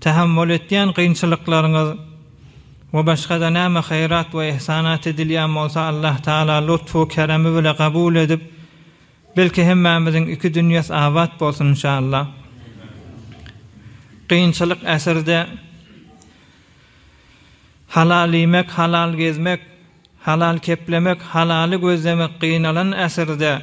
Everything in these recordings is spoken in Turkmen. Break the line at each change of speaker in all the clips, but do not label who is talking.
Tahammul etýän kynçylyklaryňyz we başga-da näme haýrat we ihsanat edilýän bolsa Allah Taala lutfu keremi bile kabul edip belki hemmämiziň iki dünýäs abat bolsun inşallah. Kynçylyk äsirde halal iýmek halal gezmek halal keplemek halaly gözlemek gynalan äsirde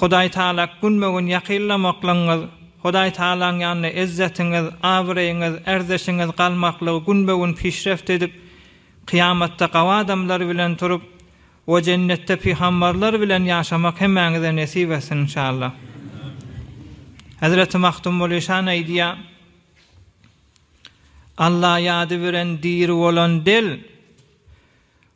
Hudaý Tagala günbe-gün ýakynlamaklygyňyz, Hudaý Tagalaň ýanynda ezzetiňiz, abraýyňyz, ärdeşiňiz galmaklygy günbe-gün pişreft edip, kyýamatda gawy adamlar bilen turup we jennetde pygambarlar bilen ýaşamak hemmäňize nesip etsin inşallah. Hezreti Magtymguly şan aýdýar, Alla ýady bilen diri bolan del,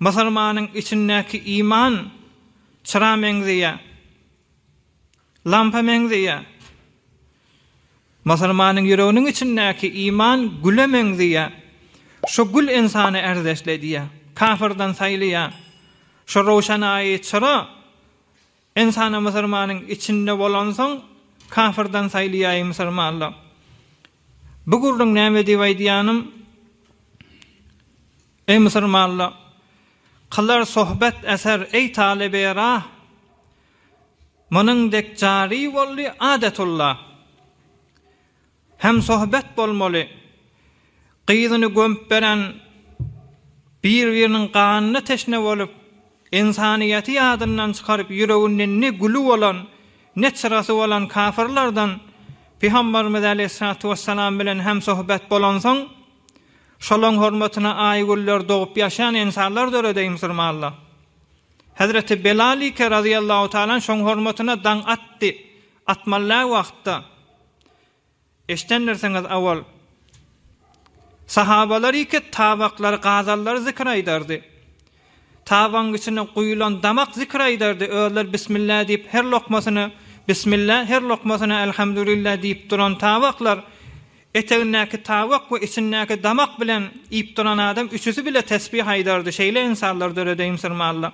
Musulmanyň içindäki iman çyra meňzeýär, lampa meňzeýär. Musulmanyň ýüreginiň içindäki iman güle meňzeýär. Şu gül ynsany ärdeşledýär, kafyrdan saýlaýar. Şu röwşanaýy çyra Ynsana musurmanyň içinde bolansoň kafyrdan saýlaýaý musurmanlyk. Bu gürrüň näme diýip aýdýanym, eý musurmanlyk, kylar sohbet eser eý talyby rah, munuň dek jary boldy adetulla. Hemsohbet bolmaly. Gyzyny gömüp beren bir-biriniň ganyna teşne bolup, ynsanyýeti ýadyndan çykaryp ýüreginde ne güli bolan, ne çyrasy bolan kafyrlardan Pygamberimiz aleýhissalatu wessalam bilen hemsohbet bolansoň, şolaň hormatyna aýgüller dogup ýaşan ynsanlar döredeý musurmanlar. Hezreti Belal-ike razyýallahu talan şoň hormatyna daň atdy, atmallaý wagtda. Eşdendirsiňiz owal, sahabalar iýkek tabaklary, gazallary zikir aýdardy. Tabagyň içine guýulan damak zikir aýdardy. Özleri Bismillah diýip, her lokmasyna Bismillah, her lokmasyna Elhamdulillah diýip duran tabaklar, etegindäki tabak we içindäki damak bilen iýip duran adam üçüsi bile tesbih aýdardy. Şeýle ynsanlar döredeýin sürme Alla.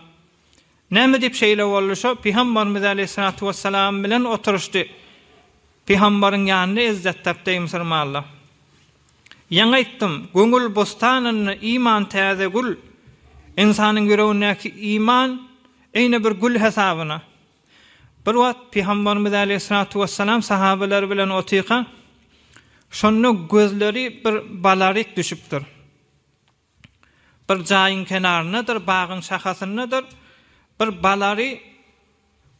Näme diýip şeýle boldy? Şo Pygambarymyz aleýhissalatu wessalam bilen oturyşdy. Pygambaryň ýanynda ezzet tapdy, eý musurmanlar! Ýaňy aýtdym, göwül bossanynda iman täze gül. Ynsanyň ýüregindäki iman eýne bir gül hesabyna. Bir wagt Pygambarymyz aleýhissalatu wessalam sahabalary bilen otyrka, şonda gözleri bir balaryk düşüpdir. Bir jaýyň kenaryndadyr, bagyň şahasyndadyr, bir balary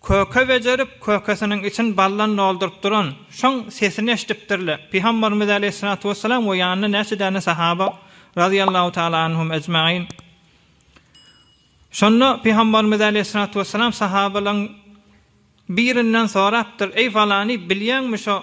köke bejerip, kökesiniň içini baldan dolduryp duran, şoň sesini eşidipdirler. Pygamberimiz aleýhissalatu wessalam we ýanynda näçe däne sahaba, razyýallahu taala anhum ejmain. Şonda Pygamberimiz aleýhissalatu wessalam sahabalaryň birinden sorapdyr, Eý falany, bilýäňmi şo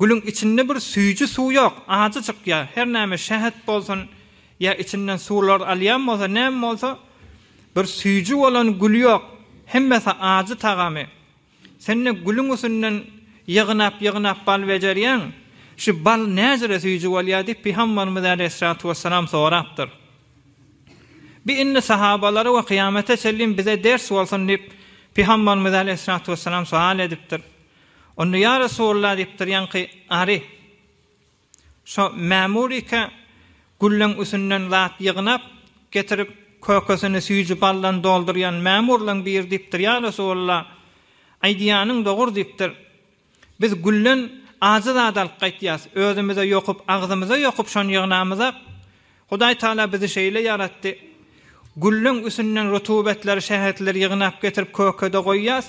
Gülüň içinde bir süýji suw ýok, ajyjyk ýa her näme şähet bolsun ýa içinden suwlar alýan bolsa näme bolsa bir süýji bolan gül ýok, hemmesi ajy tagamy. Sen-de gülüň üsünden ýygnap ýygnap bal bejerýäň, şu bal näjre süýji bolýar diýip Pygambarymyz äleyhissalatu wessalam sorapdyr. Bi indi sahabalara we kyýamete çenli bize ders bolsun diýip Pygambarymyz äleyhissalatu wessalam soal edipdir. Onda ýa Resulalla diýipdir, ýaňky ary şo mämuryka gülleň üsünden zat ýygnap getirip, kökesini süýji baldan doldurýan mämurlaň biri diýipdir, ýa Resulalla, aýdýanyň dogur diýipdir, biz gülden ajy zat alyp gaýtýas, özümize ýokup, agzymyza ýokup şony ýygnamyzak, Hudaý Tagala bizi şeýle ýaratdy, gülleň üsünden rutubetleri, şähetleri ýygnap getirip kökede goýýas,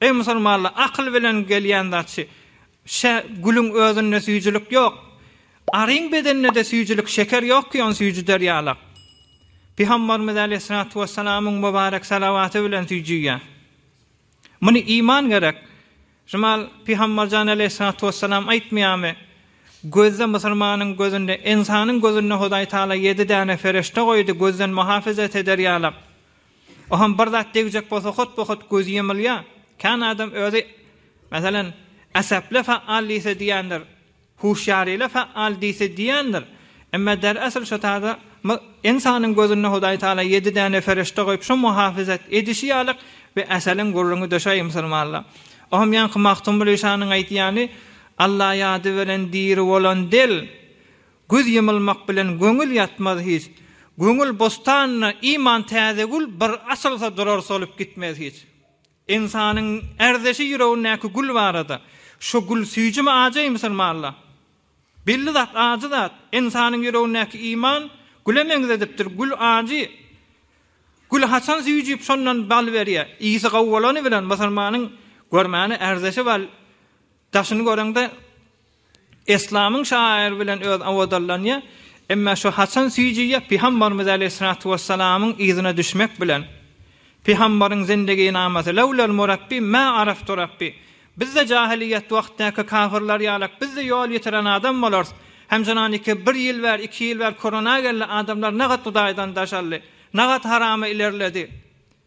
Eý musulmanlar, akyl bilen gelýän zat şu, Şä, gülüň özünde süýjülik ýok. Aryň bedeninde-de süýjülik, şeker ýok ki, ony süýjüder ýalak. Pygamberimiz äleyhissalatu wessalamyň mübarek salawaty bilen süýjüýär. Muny iman gerek. Şumal Pygamberjan äleyhissalatu wessalam aýtmaýarmy, Gözde musulmanyň gözünde, ynsanyň gözünde Hudaý Taala ýedi däne ferişde goýdy, gözden muhafezet eder ýalak. Oňam bir zat degjek bolsa hotba-hot gözi ýumulýa. Kän adam özi, meselem, Asaply faal diýse diýendir, Huşýaryly faal diýse diýendir. Emma der asl şo taýda ynsanyň gözünde Hudaý Taala ýedi däne ferişde goýup şo muhafyzat edişi ýaly we asaliň gürrüňi döşäý musulmanlar. Oňam ýaňky Magtymguly şanyň aýdýany Alla ýady bilen diri bolan dil, Göz ýymylmak bilen göňül ýatmaz hiç, Göňül bostanyna iman täze gül bir açylsa durar solup gitmez hiç. Ynsanyň ärdeşi ýüregindäki gül barada, Şo gül süýjümi ajy musulmanla? Belli zat ajy zat, ynsanyň ýüregindäki iman güle meňzedipdir, gül ajy. Gül haçan süýjüp şondan bal berýär, ysy gowy bolany bilen musulmanyň görmäne ärdeşi bal daşyny göreňde, Eslamyň şaýyr bilen öz owadanlanýa, emma şu haçan süýjüýä Pyhambarymyz aleýhissalatu wessalamyň yzyna düşmek bilen. Pyhambaryň zindiginamaty, Lewlel murabbi mä araftu rabbi, Bizde jahylyýet wagtdaky kafyrlar ýalak bizde ýol ýitiren adam bolarys. Hemşiran iki bir ýyl bär, iki ýyl bär korona geldi, adamlar nagat hudaýdan daşaldy. Nagat harama ilerledi.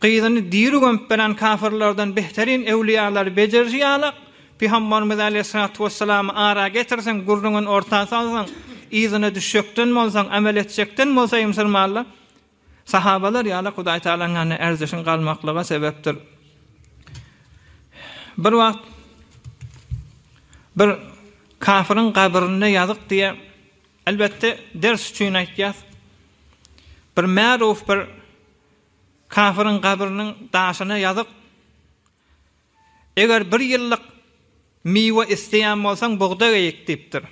Gyzyny diri gömüp beren kafyrlardan behterin öwliýalary bejeriji ýalak, Pygamberimiz aleýhissalatu wessalamy ara getirseň, gürrüňini orta salsaň, yzyna düşjekden bolsaň, amel etjekden bolsa ymsyrmanla, sahabalar ýalak Hudaý Tagalaň ýanynda erjişiň galmaklyga sebepdir. Bir wagt bir kafyryň gabrynda ýazyk diýýär. Elbetde ders üçin aýtýas. Bir märuf bir Kafiryň gabrynyň daşyna ýazyk, Eger bir ýyllyk miwe isleýän bolsaň, bugdaý eýik diýipdir.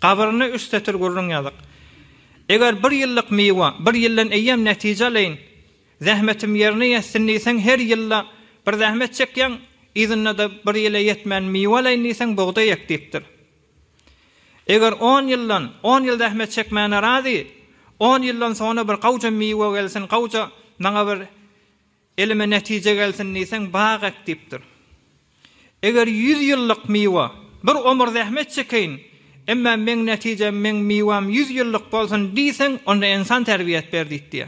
Gabryna üç setir gürrüň ýazyk, Eger bir ýyllyk miwe, bir ýyldan eýýäm netije alaýyn, zähmetim ýerine ýetsin diýseň, her ýylda bir zähmet çekýäň, yzynda-da bir ýyla ýetmän miwe alaýyn diýseň, bugdaý ek diýipdir. Eger on ýyldan, on ýyl zähmet çekmäne razy, on ýyldan soňra bir gawja miwe gelsin, gawja maňa bir elime netije gelsin diýseň, bag ek diýipdir. Eger ýüz ýyllyk miwe, bir omur zähmet çekeýin, emma meň netijem, meň miwäm ýüz ýyllyk bolsun diýseň, onda ensan terbiýe et ber diýipdiýä.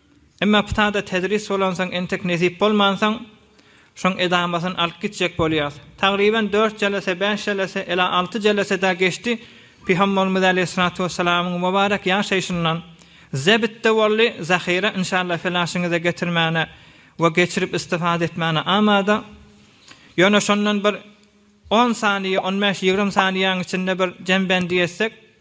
Emma ptada tedris bolansoň entek nesip bolmansoň şoň edamasyny alyp gitjek bolýas. Tagryban dört jelese, bäş jelese, ela alty jelese-dä geçdi, Pygamberimiz aleýhyssalatu wessalamyň mubarek ýaşaýşyndan zebitde boldy, zahyra inşalla felashyňyza getirmäne we geçirip istifade etmäne amada. Ýöne şondan bir on saniýe, on bäş, ýigrimi saniýäň içinde bir jembendi etsek,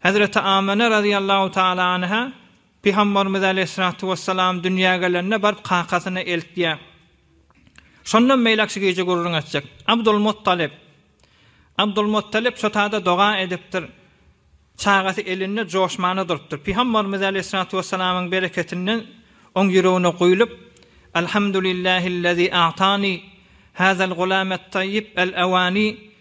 Hezreti Amina razyýallahu taala anha Pygambarymyz aleýhissalatu wessalam dünýä gelende baryp kakasyna eltýär. Şondan beýläk şu gije gürrüň etjek. Abdul Muttalib. Abdul Muttalib şo tada doga edipdir. Çagasy elinde joşmana durupdyr. Pygambarymyz aleýhissalatu wessalamyň bereketinden oň ýüregine guýlup, Alhamdulillahillezî a'tani hazal gulamet taýyb el-awani.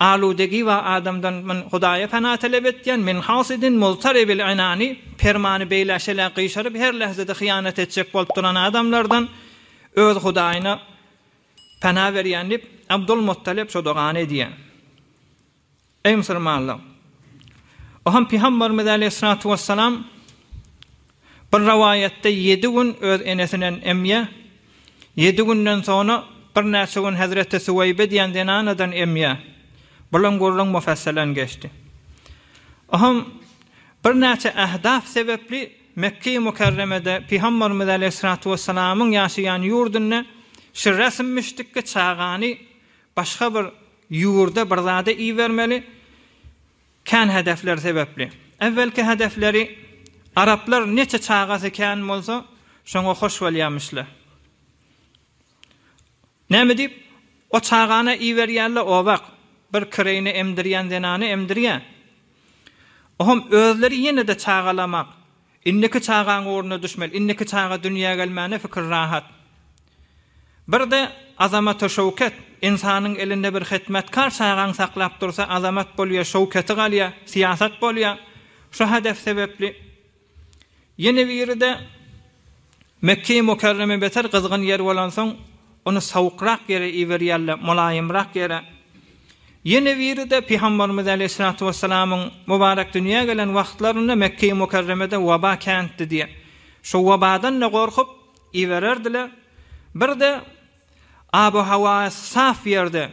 Aludegi we adamdan men Hudaýa pena talap etýän, men has edin Muztaribil Enani, permany beýlä şelä gyşaryp her lähzede hyýanat etjek bolup duran adamlardan öz Hudaýyna pena berýän diýip, Abdul Muttalip şo dogany edýär. Eý musulmanlar! O hem Pygamberimiz aleýhissalatu wessalam, Bir rowaýatda ýedi gün öz enesinen emýä, ýedi günden soňra birnäçe gün hezreti Süweýbe diýen zenanadan emýä. Bulan gürrüň mufassalen geçdi. Oham birnäçe ähdaf sebepli Mekgeýi Mükerremede Pygamberimiz Aleýhissalatu Wessalamyň ýaşaýan ýurdunda şu resmmişdikki çagany başga bir ýurda bir zada ibermeli, Kän hedefler sebäpli. Äwwelki hedefleri araplar neçe çagasy kän bolsa, şoňa hoş bolýarmyşlar. Näme diýip, o çagany iberýärler obak, bir kireýine emdirýän zenany emdirýär. Oňam özleri ýene-de çagalamak, Indiki çagaň ugruna düşmeli. Indiki çaga dünýä gelmäne pikir rahat. Birde Azamata Şöwket, Ynsanyň elinde bir hytmatkar çagaň saklap dursa Azamat bolýa, Şöwketi galýa, syýasat bolýa. Şu hadas sebepli. Ýene biride. Mekge-i Mukärreme beter gyzgyn ýer bolansoň, ony sowukrak ýere iberýärler, molaýymrak ýere. Ýene biri-de Pygamberimiz aleýhissalatu wessalamyň mubarek dünýä gelen wagtlarynda Mekge-i Mukärremede waba kändi diýen. Şo wabadan-da gorkup, ibererdiler. Bir-de abo-hawasy saf ýerde,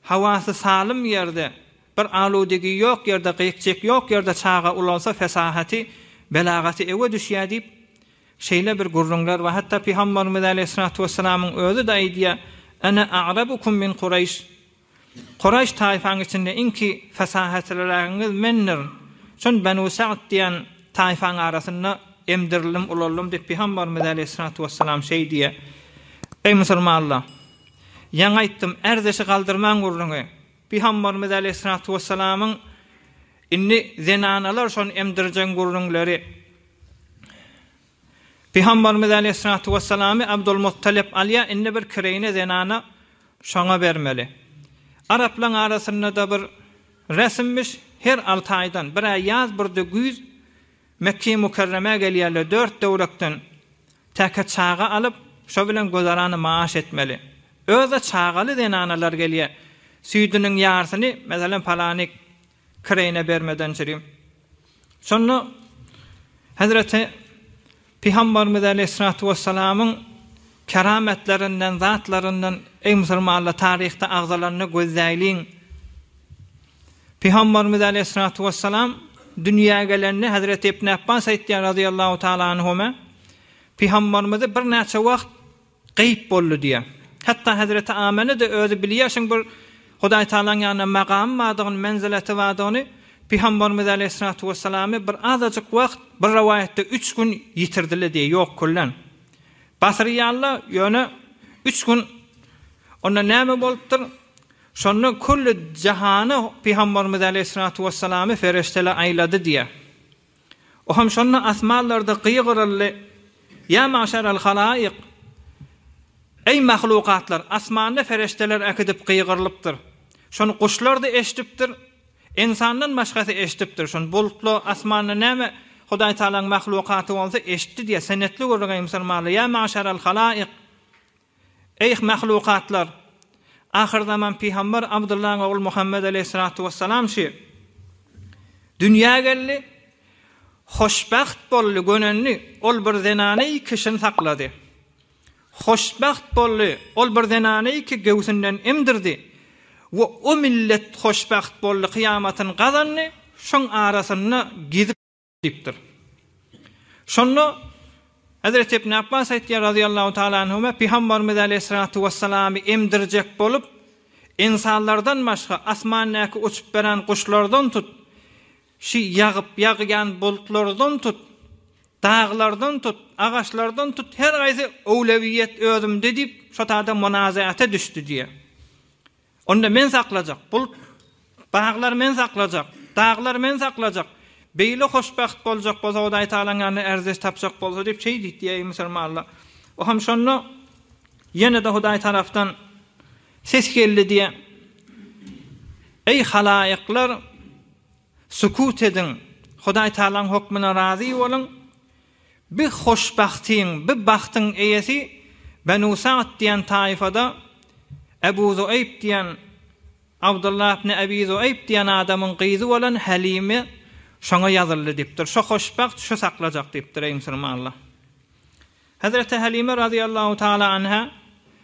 Hawasy salym ýerde, bir aludigi ýok ýerde, gyk-jyk ýok ýerde çaga ulalsa fesahaty, belagaty ewe düşýär diýip, şeýle bir gürrüňler bar. Hatda Pygamberimiz aleýhissalatu wessalamyň özi-de aýdýar, Ene a'rabukum min Kuraýş, Kuraýş taýfaň içinde iňki fesahatlyragyňyz mendir. Şon Benu Sa'd diýen taýfaň arasynda emdirildim, ulaldym diýip, Pygamberimiz aleýhissalatu wessalam şeý diýýär. Eý musulmanlar! Ýaňy aýtdym, ärdeşi galdyrmaň gürrüňi. Pygamberimiz aleýhissalatu wessalamyň indi zenanalar şony emdirjeň gürrüňleri. Pygamberimiz aleýhissalatu wessalamy Abdulmuttalip alýar, indi bir kireýne zenana şoňa bermeli. Araplaň arasyndada bir resmmiş, her alty aýdan, bir aý ýaz, bir-de güýz Mekge-i Mükerremä gelýärler, dört töwerekden Täke çaga alyp, şo bilen gözarany maaş etmeli. Öz-de çagaly zenanalar gelýä. Süýdüniň ýarsyny, meselem, palanik kireýine bermeden çürim. Şonda Hezreti Pygambarymyz aleýhissalatu wessalamyň kerametlerinden, zatlaryndan, eý, musulmanlar, taryhda agzalanyny gözläýliň. Pygambarymyz aleýhissalatu wessalam dünýä gelende Hazreti Ibn Abbas aýtýar razyýallahu taala anhuma Pygambarymyzy birnäçe wagt gaýyp boldy diýýär. Hatda Hazreti Amene-de özi bilýär şuň bir Hudaý Taalanyň ýanynda magamy bardygyny, menzileti bardygyny, Pygambarymyz aleýhissalatu wessalamy bir azajyk wagt, bir rowaýatda üç gün ýitirdiler diýýär, ýok kyllan. Basyrýarlar, ýöne üç gün onda näme bolupdyr? Şonda külli jahana Pygamberimiz aleýhissalatu wessalamy perişdeler aýlady diýýär. O hem şonda asmanlarda gygyryldy, Ýa maşaral halaýyk! Eý mahlukatlar! Asmanda perişdeler äkidip gygyrylypdyr. Şony guşlar-da eşidipdir, ynsandan başgasy eşidipdir. Şony bulutla, asmanda näme Hudaý Tagalaň mahlukaty bolsa eşitdi diýýär. Senetli gürrüň eý musulmanlar! Ýa maşaral halaýyk! Eý, mahlukatlar! Ahyrzaman pygamber Abdyllaň ogly Muhammet aleýhissalatu wessalam şy dünýä geldi. Hoşbagt boldy, gönendi, ol bir zenany kişini saklady. Hoşbagt boldy, ol bir zenany ki göwsünden emdirdi we o millet hoşbagt boldy, kyýamatyny gazandy, şoň arasynda gezip. Diýipdir. Şonda Hezreti Ibn Apbas aýtýar razyýallahu taala anhuma Pygambarymyz aleýhissalatu wessalamy emdirjek bolup, ynsanlardan başga asmandäki uçup beren guşlardan tut, şi ýagyp ýagýan bulutlardan tut, daglardan tut, agaçlardan tut her gaýsy öwlewiýet özümde diýip şo taýda munazaata düşdi diýýär. Onda men saklajak, bul baglar men saklajak, daglar men saklajak. Beýle hoşbagt boljak bolsa, Hudaý Tagalaň ýanynda ärdeş tapjak bolsa diýip şeýdit diýip diýýär musulmanlar. O hem şonda ýene-de Hudaý tarapdan ses geldi diýýär. Eý halaýyklar, sukut ediň, Hudaý Tagalaň hokmuna razy boluň, Bi hoşbagtyň, bi bagtyň eýesi Benu Sa'd diýen taýfada Ebu Zueýb diýen, Abdullah ibn Abi Zueýb diýen adamyň gyzy bolan Halime şoňa ýazyldy diýipdir. Şo hoşbagt şu saklajak diýipdir, eý musulmanlar. Hezreti Halime razyýallahu taala anha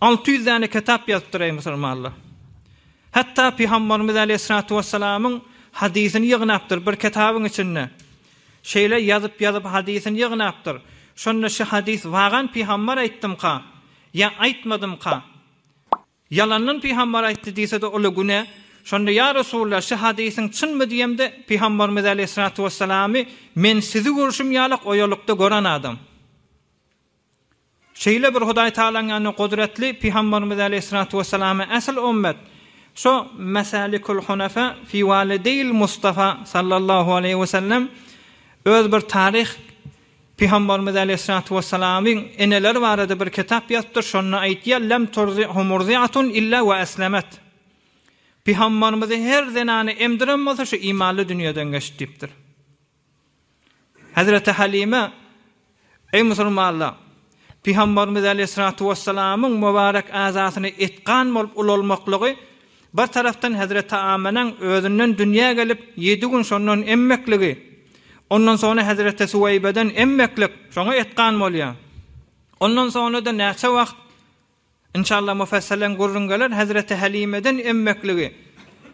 Alty ýüz däne ketap ýazypdyr eý musulmanlar. Hatda pygambarymyz aleýhissalatu wessalamyň hadysyny ýygnapdyr bir ketabyň içinde. Şeýle ýazyp ýazyp hadysyny ýygnapdyr. Şonda şu hadys wagan pygambar aýtdymka ýa aýtmadymka? Ýalandan pygambar aýtdy diýsede uly güne. Şonda ýa Resulullah şu hadysyň çynmy diýemde pygambarymyz aleýhissalatu wessalamy men sizi görşüm ýalak oýalykda gören adam. Şeýle bir Hudaý Tagalaň ýanynda gudratly Pygambarymyz aleýhissalatu wesselama ähli ümmet şu Mesalikul Hunafa fi Walideýil Mustafa sallallahu aleýhi wesellem öz bir taryh Pygambarymyz aleýhissalatu wessalamyň eneleri barada bir kitap ýazypdyr şonda aýtýar lem turzihhu murziatun illa we eslemet Pygambarymyzy her zenany emdiren bolsa şu imanly dünýeden geçdi diýipdir. Hezreti Halime, Eý musulmanlar! Pygamberimiz aleýhissalatu wessalamyň mubarek azasyny etgan bolup ulalmaklygy bir tarapdan hezreti Amenaň özünden dünýä gelip ýedi gün şondan emmekligi, ondan soňra hezreti Suweýbeden emmeklik, şoňa etgan bolýar. Ondan soňra-da näçe wagt Inşallah mufasselen gürrüň geler Hezreti Halimeden emmekligi.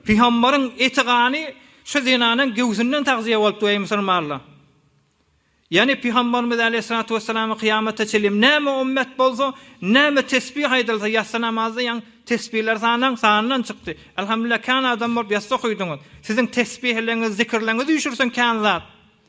Pygambaryň eti gany şu zenanyň göwsünden tagzyýe bolupdyr eý musulmanlar. Ýani pygambarymyz aleýhissalatu wessalam kyýamata çenli näme ummet bolsa, näme tesbih aýdylsa ýassy namazda ýaň tesbiler sanaň sandan çykdy. Elhamdulillah kän adam bolup ýassa okuýdyňyz. Siziň tesbihleňiz, zikirleňiz üýşürsin kän zat.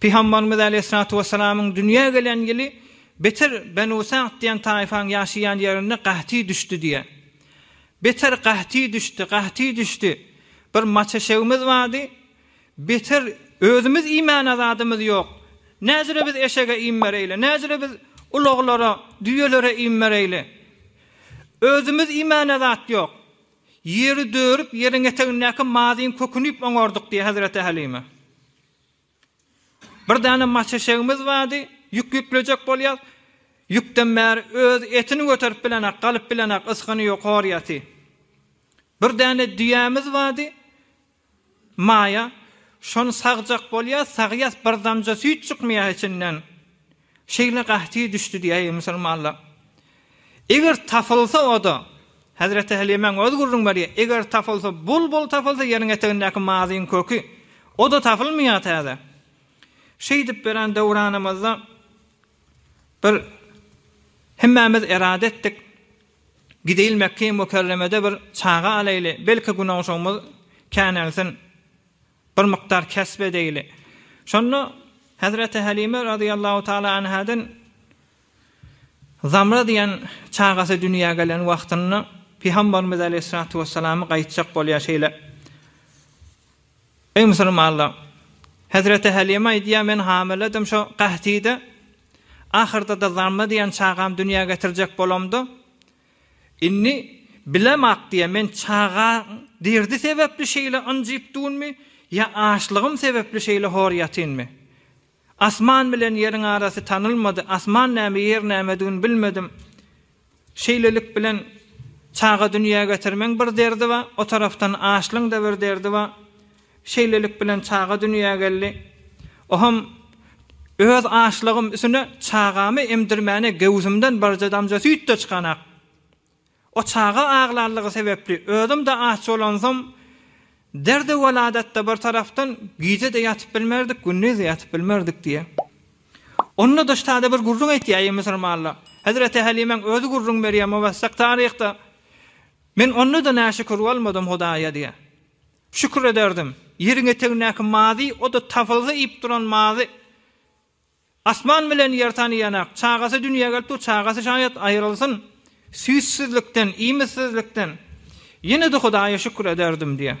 Pygambarymyz äleyhissalatu wessalamyň dünýä gelen ýyly beter Benu Sa'd diýen taýfaň ýaşaýan ýerinde gahty düşdi diýýär. Beter gahty düşdi, gahty düşdi. Bir maç eşegimiz bardy. Beter özümiz iýmäne zadymyz ýok. Näzire biz eşege iým bereýle, näzire biz ulaglara, düýelere iým bereýle. Özümiz iýmäne zat ýok. Ýeri dörüp, ýeriň etegindäki mazyň köküni iýip oňardyk diýýär Hezreti Hälime. Bir däne maç eşegimiz bardy, ýük ýüklejek bolýas. Ýükden bäri öz etini göterip bilenak, galyp bilenak, ysgyny ýok, hor ýaty. Bir däne düýämiz bardy, Maýa, şony sagjak bolýas, sagýas, bir damja süýt çykmaýa içinden. Şeýle gahty düşdi diýäýi musulmanlar. Eger tapylsa o-da, Hezreti Helimäň öz gürrüň berýä, eger tapylsa, bulbul tapylsa, ýeriň etegindäki mazyň köki, o-da tapylmaýar täze. Şeýdip bilen döwranymyzda bir hemmämiz erade etdik, gideýil Mekge-i Mükerremede bir çaga alaýly, belki günogşumyz känelsin. Bir mukdar kesp edeýli. Şonda Hezreti Hälime razyýallahu taala anhadan Zamra diýen çagasy dünýä gelen wagtynda Pygambarymyz aleýhissalatu wessalamy gaýtjak bolýar şeýle, Eý musulmanlar! Hezreti Hälime aýdýar, men hamiledim şo Gahtide, ahyrda-da Zamra diýen çagamy dünýä getirjek bolamda, Indi, bilemok diýä, men çagaň derdi sebäpli şeýle ynjyp dunmy ýa açlygym sebäpli şeýle hor ýatynmy? Asman bilen ýeriň arasy tanylmady, asman näme, ýer nämedigini bilmedim. Şeýlelik bilen çaga dünýä getirmeň bir derdi bar, o tarapdan açlyň-da bir derdi bar. Şeýlelik bilen çaga dünýä geldi. Ohm öz açlygym üsüne çagamy emdirmäne göwsümden birje damja süýt-de çykanak. O çaga aglarlygy sebäpli özüm-de aç bolansoň, derdi-weladatda bir tarapdan gije-de ýatyp bilmerdik, gündiz-de ýatyp bilmerdik diýýär. Onda daş täze bir gürrüň aýtýaýy musurmanlar. Hezreti Hälimäň özi gürrüň berýär, Muwessak taryhda, Men onda-da näşükür bolmadym Hudaýa diýýär. Şükür ederdim. Ýeriň etegindäki mazy, o-da tapylsa iýip duran mazy. Asman bilen ýer tanaýan-ak. Çagasy dünýä gelip dur, çagasy şaýat aýrylsyn. Süýtsüzlikden, iýmitsizlikden. Ýene-de Hudaýa şükür ederdim, diýýär.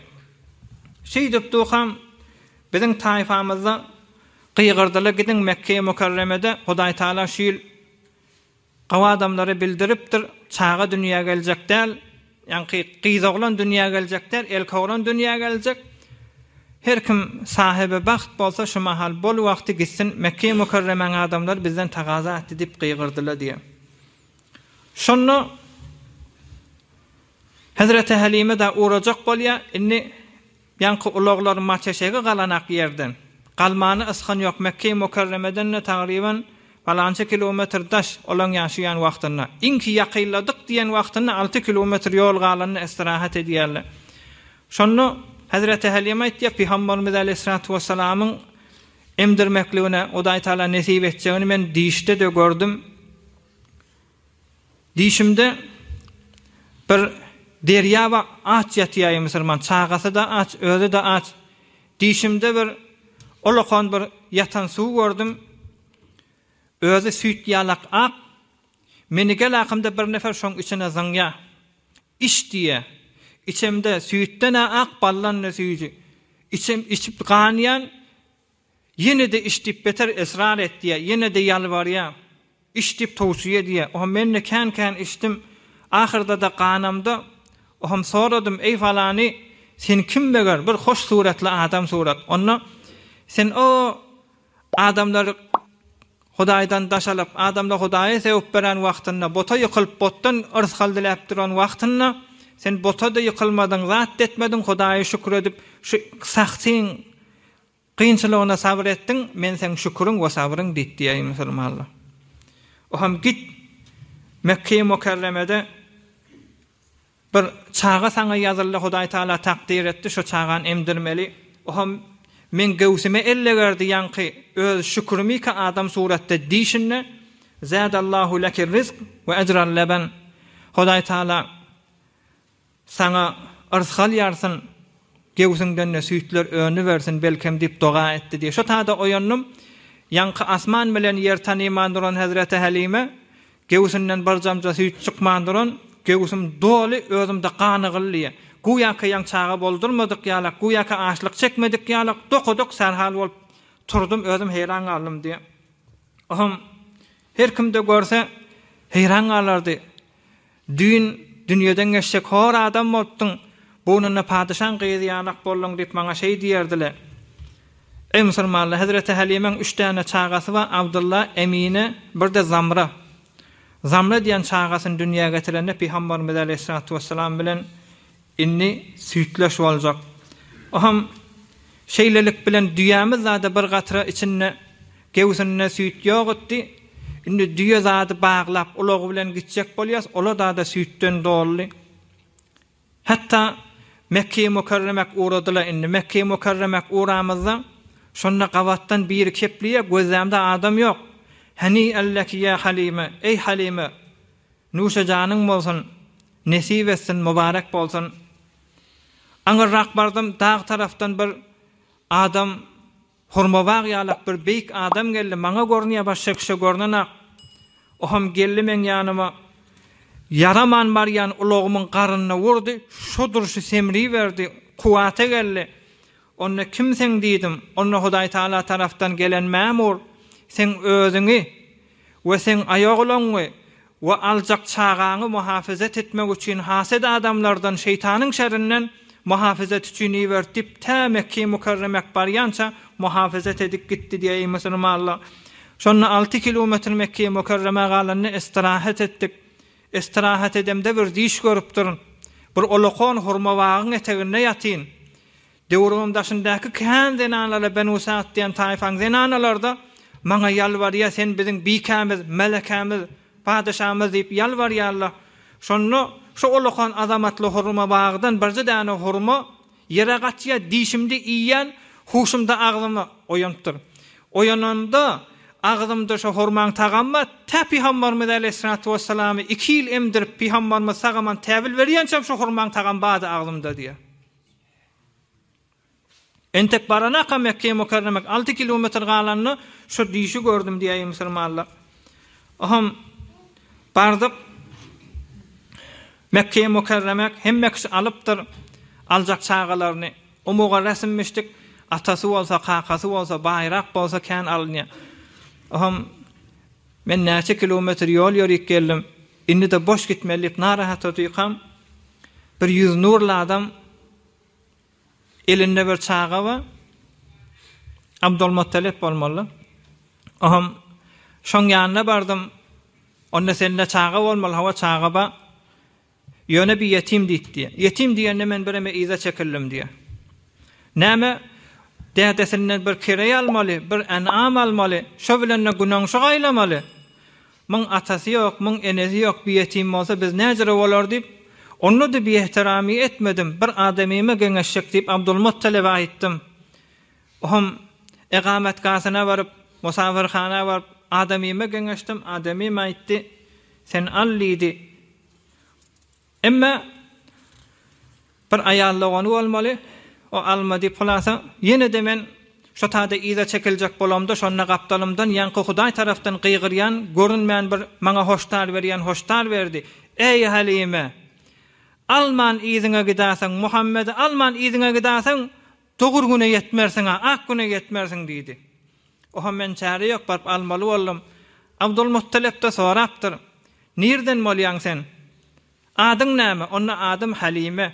Şeýdipdukam, biziň taýpamyzda gygyrdylar, Gidiň Mekgeýe Mükerremede Hudaýtagala şu ýyl Gowy adamlara bildiripdir, çaga dünýä geljek däl, ýaňky gyzoglan dünýä geljek däl, elkoglan dünýä geljek. Her kim sahyby bagt bolsa şu mahal bol wagty gitsin, Mekge-i Mükerremäň adamlary bizden tagaza etdi diýip gygyrdylar diýýär. Şonda Hezreti Hälime-de urajak bolýar, indi Ýaňky ulaglar Mateşege galanak ýerden, galmany ysgyn ýok, Mekge-i Mükerremeden-de tagryban palança kilometr daş, olaň ýaşaýan wagtynda, iňki ýakynladyk diýen wagtynda alty kilometr ýol galanda istirahat edýärler. Şonda Hezreti Hälýem aýtýar, Pygamberimiz aleýhissalatu wessalamyň emdirmekligini Hudaýtagala nesip etjegini men dişde-de gördüm. Dişimde bir derýa ba aç ýatýaý musurman çagasy-da aç özi-de aç dişimde bir olakan bir ýatan suw gördüm özi süýt ýalak ak meni gel akymda bir nefer şoň içine zyňýa iç diýýä içemde süýtden-ä ak baldan-da süýji içip içip ganýan Ýene-de iç diýip beter esrar etýär, ýene-de ýalbarýar, iç diýip towsiýe edýär. Oham men-de kän-kän içdim, ahyrda-da ganamda. Oham soradym, Eý falany, sen kim meger, bir hoş suratly adam surat. Onda sen o adamlar Hudaýdan daş alyp, adamlar Hudaýa sögüp beren wagtynda, bota ýykylyp, botdan yrsgal diläp duran wagtynda, sen bota-da ýykylmadyň, zat-da etmediň, Hudaýa şükür edip, şu sahtyň Kynçylygyna sabyr etdiň, men seň şüküriň we sabryň diýip diýäýin musulmanlar. O hem git Mekkeýi Mukerremede bir çaga saňa ýazyldy, Hudaý Taala takdyr etdi, şo çagany emdirmeli. O hem meň göwsüme ellegerdi ýaňky öz şükürimi-ka adam suratda diýşinde, Zâdallahu leki rizq we ecral leben, Hudaý Taala Saňa yrs galýarsyn, göwsüňden-de süýtler önübersin, belkem diýip doga etdi diýip, şo tada oýandym. Ýaňky asman bilen ýer tanyman duran hezreti Hälime göwsünden bir damja süýt çykman duran, göwsüm doly, özüm-de ganygyl diýip, güýäkä ýaň çaga boldurmadyk ýalak, güýäkä açlyk çekmedik ýalak, dokadyk, serhal bolup turdum, özüm heýran galdym diýip, ohm, Her kimde görse, heýran galardy. Düýn dünýeden geçjek hor adam bolupdyň, buýnunda padyşaň gyzy ýalak bolduň diýip maňa şeý diýerdiler. Eý musulmanlar, hezreti Hälimäň üç däne çagasy bar, Abdylla, Emine, bir-de Zamra. Zamra diýen çagasyny dünýä getirende Pygamberimiz aleýhissalatu wessalam bilen Indi süýtleş boljak. Oham, şeýlelik bilen düýämiz zada bir gatra içinde gewsinde süýt ýok etdi. Indi düýe zady baglap, ulagy bilen gitjek bolýas, ol-a zada süýtden doldy. Hatda Mekge-i Mükerremek ugrady-la indi. Mekge-i Mükerremek ugramyzda, şonda gabatdan biri keplýär, gözlämde adam ýok. Heniýa leki ýa Halyma, eý Halyma! Nuşa janyň bolsun, nesip etsin, mubarek bolsun. Aňyrrak bardym, dag tarapdan bir adam hurma bag ýalak bir beýik adam geldi, maňa görünýä başga kişä görnenak. Oham geldi meň ýanyma, ýaraman barýan ulagymyň garnyna urdy, şo durşy semriberdi, kuwata geldi. Onda kim seň diýdim, onda Hudaýtagala tarapdan gelen mämur seň özüňi we seň aýaglanyňy we aljak çagaňy muhafyzat etmek üçin haset adamlardan şeýtanyň şerinden muhafyzat üçin iberdi diýip tä Mekki Mukerremek barýança muhafyzat edip gitdi diýe eý musulmanlar şonda alty kilometr Mekki Mukerreme galanda estirahat etdik Istirahat edemde bir düýş görüpdirin. Bir olakan hurma bagyň eteginde ýatyn. Döwrümiň daşyndaky kän zenanlara Benuse at diýen taýfaň zenanalary-da maňa ýalbarýar, sen biziň bikämiz, melekämiz, padeşamyz diýip ýalbarýarlar. Şonda şu olakan azamatly hurma bagydan birje däne hurma Ýere gatyýar dişimde iýýän huşumda agzyma oýanypdyr. Oýananda agzymda şo hurmaň tagamy bar, tä Pygambarymyz aleýhissalatu wessalamy iki ýyl emdirip Pygambarymyz sag aman täbil berýänçäm şo hurmaň tagamy bardy agzymda diýýär. Entek baranakam Mekgeýe Mükerremek alty kilometr galanda şo dişi gördüm diýýär musulmanlar. Ohm bardyk. Mekge-i Mukerremek hemme kişi alypdyr, aljak çagalaryny. O muga resm müşdik, atasy bolsa, kakasy bolsa, baýrak bolsa kän alynýar. Ohm, men näçe kilometr ýol ýörik geldim, indi-de boş gitmeli diýip narahat otyrkam, bir ýüzi nurly adam, Elinde bir çaga bar. Abdulmuttalip bolmaly. Oňam şoň ýanyna bardym. Onda sende çaga bolmaly, hawa çaga bar. Ýöne bir ýetim diýdi. Ýetim diýende men bireme yza çekildim diýýär. Näme dädesinden bir kireý almaly, bir enam almaly, şo bilen-de günäňşy gaýlamaly. Muň atasy ýok, muň enesi ýok, bi ýetim bolsa biz näjere bolar diýip, onda-da biehteramygy etmedim, bir adamyma geňeşjek diýip Abdulmuttalebe aýtdym. Ohm egametgahyna baryp, musafirhana baryp adamyma geňeşdim, adamym aýtdy, Sen al diýdi. Emma bir aýal dogany bolmaly, o alma diýip hulasa, ýene-de men şo tada yza çekiljek bolamda şonda gapdalymdan ýaňky Hudaý tarapdan gygyrýan görünmän bir maňa hoşdar berýän hoşdar berdi, Eý Halime! Alman yzyňa gidaseň, Muhammedi alman yzyňa gidaseň, Togur güne ýetmersiň-a, ak güne ýetmersiň, diýdi. Oho, men çäre ýok, baryp almaly boldum. Abdulmuttalep-de sorapdyr, Nirden bolýaň sen? Adyň näme? Onda adym Hälime.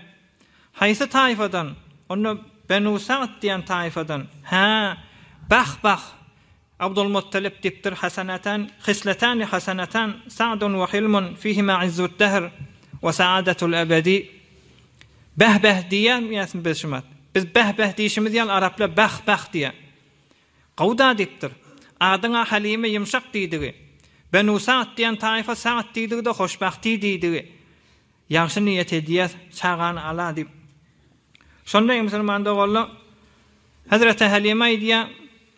Haýsy taýfadan? Onda Benu Sagt diýen taýfadan. Hä, bah-bah! Abdulmuttalip dikdir hasanatan hisletani hasanatan sa'dun we hilmun fihima izzu'd dahr we sa'adetu'l ebedi Beh beh diýýämiýäsmi biz şumat? Biz beh beh diýşimiz ýaly araplar beh beh diýýä. Gowuda dikdir. Adyň-a Halime ýumşak diýdigi. Benu Sa'd diýen taýfa Sa'd diýdigi-de hoşbahti diýdigi. Ýagşy niýet edýäs, çagany al-a diýip. Şonda eý musulman doganlar, Hezreti Halime aýdýa,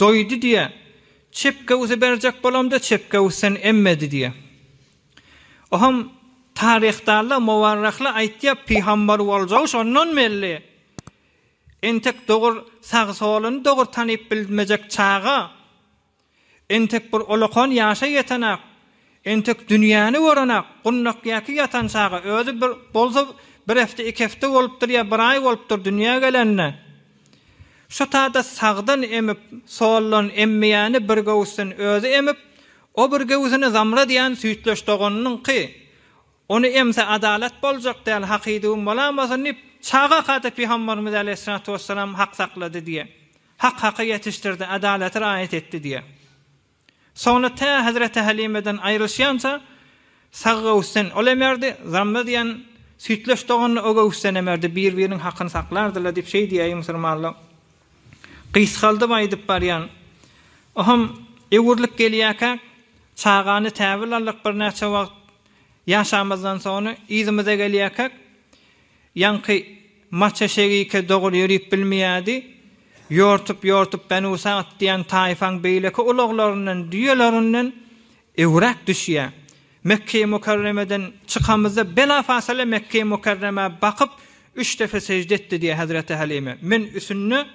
Doýdy diýýä. Çep göwsi berjek bolamda çep göwüsden emmedi diýýä. Oham taryhdarlar muwarrahlar aýtýar pygambar boljagy şondan belli. Entek dogur sag soluny dogur tanyp bilmejek çaga entek bir ulakan ýaşa ýetenak Entek dünýäni gören-ak, gundakýaki ýatan çagy, özi bir, bolsa bir hepde, iki hepde bolupdyr ýa bir aý bolupdyr dünýä gelende. Şo tada sagdan emip, soldan emmeýäni bir göwüsden özi emip, o bir göwüsini Zamrat ýan süýtleş doganynyňky, ony emse adalat boljak däl, hakyduwym bolamasyn diýip, çaga-kada pygamberimiz äleyhissalatu wesselam hak saklady diýýär. Hak haky ýetişdirdi, adalaty raýat etdi diýýär. Soňra tä Hezreti Halimeden aýrylyşýança saggöwüsden ol emerdi, zamma diýen süýtleş doganyny o göwüsden emerdi, bir-biriniň hakyny saklardylar diýip şeý diýýär musulmanlar. Gysgaldyp aýdyp barýan. Ohem öwrülip gelýärkäk, çagany täwil aldyk, birnäçe wagt ýaşamazdan soňra yzymyza gelýärkäk, Ýaňky Maçeşegike doguly ýörüp bilmeýärdi. Ýortup-ýortup Benusagt diýen taýfaň beýleki ulaglaryndan, düýelerinden öwräp düşýär. Mekgeýi-Mukarremeden çykamyzda bela-fasala Mekgeýi-Mukarremä bakyp, üç depe sežde etdi diýýär hezreti Hälime. Men üsünde,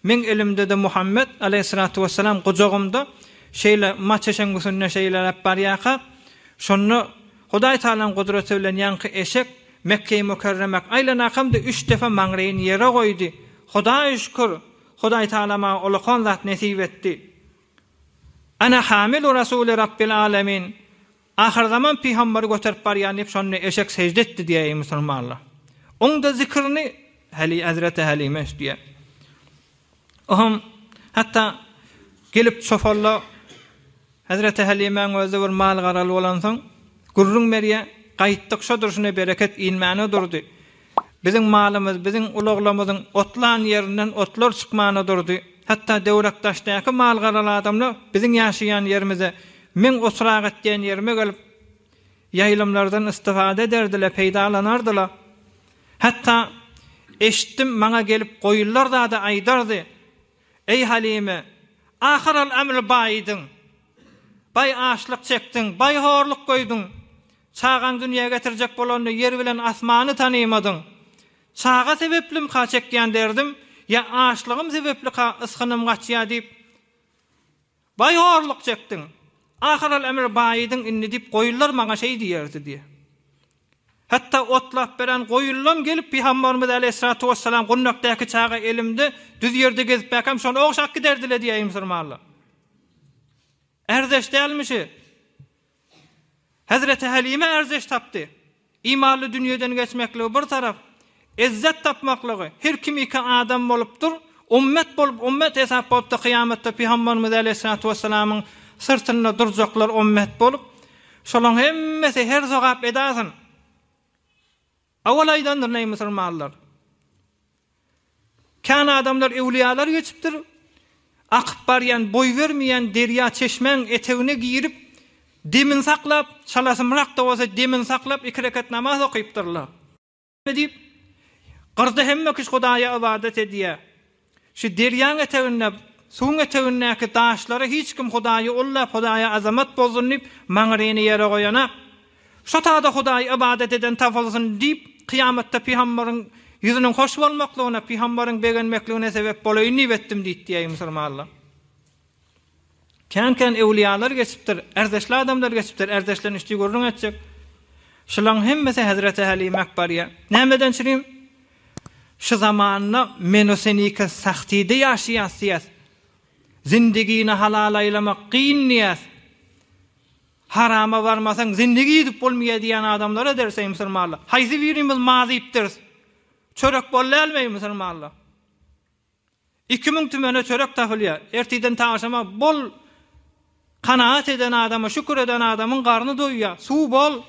meň elimde-de Muhammet, aleýhyssalatu wessalam, gujagymda, şeýle Maçeşeň üsünde şeýleräp barýarka, şonda, Hudaý Tagalaň gudraty bilen ýaňky eşek Mekgeýi Mükerremek aýlanakam-da üç defe maňryýyny ýere goýdy. Hudaý şükür! Hudaý Tagala maňa ulakan zat nesip etdi. Ana hamilu rasuli Rabbil Alamin, ahyrzaman pygamberi göterip barýan diýip şonda eşek sežde etdi diýýär eý musulmanlar. Oňda zikirini Heli Hazreti Halime üstýär. Ohm hatda gelip çopanla Hezreti Hälimäň özi bir mal-garaly bolansoň, gürrüň berýär, Gaýtdyk, şo durşuna bereket inmäne durdy. Biziň malymyz, biziň ulaglarymyzyň otlan ýerinden otlar çykmana durdy. Hatda Döwrakdaşdaky mal-garaly adamlar biziň ýaşaýan ýerimize, meň otragat diýen ýerime gelip, ýaýlymlardan istifade ederdiler, peýdalanardylar. Hatda, eşitdim, maňa gelip goýunlar zada aýdardy. Eý Halime, ahyral-ämr baýydyň. Baý açlyk çekdiň, baý horluk göýdüň. Çagaň dünýä getirjek bolanda ýer bilen asmany tanymadyň. Çaga sebeplimka çekýän derdim, ýa açlygym sebeplika ysgynym gaçýar diýip, Baý horluk çekdiň. Ahyral emir baýydyň indi diýip goýunlar maňa şeý diýerdi diýe. Hatda otlap beren goýunlam gelip Pygambarymyz aleýhissalatu wessalam gundakdaky çaga elimde düz ýerde gezip mäkäm şony ogşap giderdiler diýýär eý musurmanlar. Ärdeş dälmi şi? Hezreti Hälime erzeş tapdy. Imanly dünýeden geçmekligi bir tarap, ezzet tapmaklygy, her kim iki adam bolup dur, ummet bolup ummet hesap bolupdy kyýamatda pygamberimiz aleýhissalatu wessalamyň syrtynda durjaklar ummet bolup, şolaň hemmesi her sogap edasyn. Owal aýdandyr neý musurmanlar. Kän adamlar öwliýalar geçipdir, akyp barýan, boý bermeýän derýa çeşmäň etegine girip, demini saklap, çalasymrak-da bolsa demini saklap iki rekat namaz okypdyrlar. Diýip, gyrda hemme kişi Hudaýa ybadat edýär. Şu derýaň eteginde, suwuň etegindäki daşlara hiç kim Hudaýy ullap, Hudaýa azamat bozdun diýip, maňryny ýere goýanak. Şo tada Hudaýy ybadat eden tapylsyn diýip, kyýamatda pygamberiň ýüzüniň hoş bolmaklygyna, pygamberiň begenmekligine sebäp bolaýyn diýip etdim diýdi diýýär musulmanlar. Kän-kän öwliýalar geçipdir, ärdeşli adamlar geçipdir, ärdeşlerini üçdi gürrüň etjek. Şulaň hemmesi hezreti Hälime Akbarýa. Nämeden çürim? Şu zamanda menosenike sahtyda ýaşaýas diýýäs. Zindigini halal aýlamak kyn diýýäs. Harama barmasaň zindigi ýitip bolmaýar diýýän adamlar ederis eý musulmanlar. Haýsy birimiz ma diýipdiris? Çörek bol dälmi eý musulmanlar? Iki müň tümene çörek tapylýar. Ertiden taşama bol kanagat eden adama, şükür eden adamyň garny doýýar. Suw bol.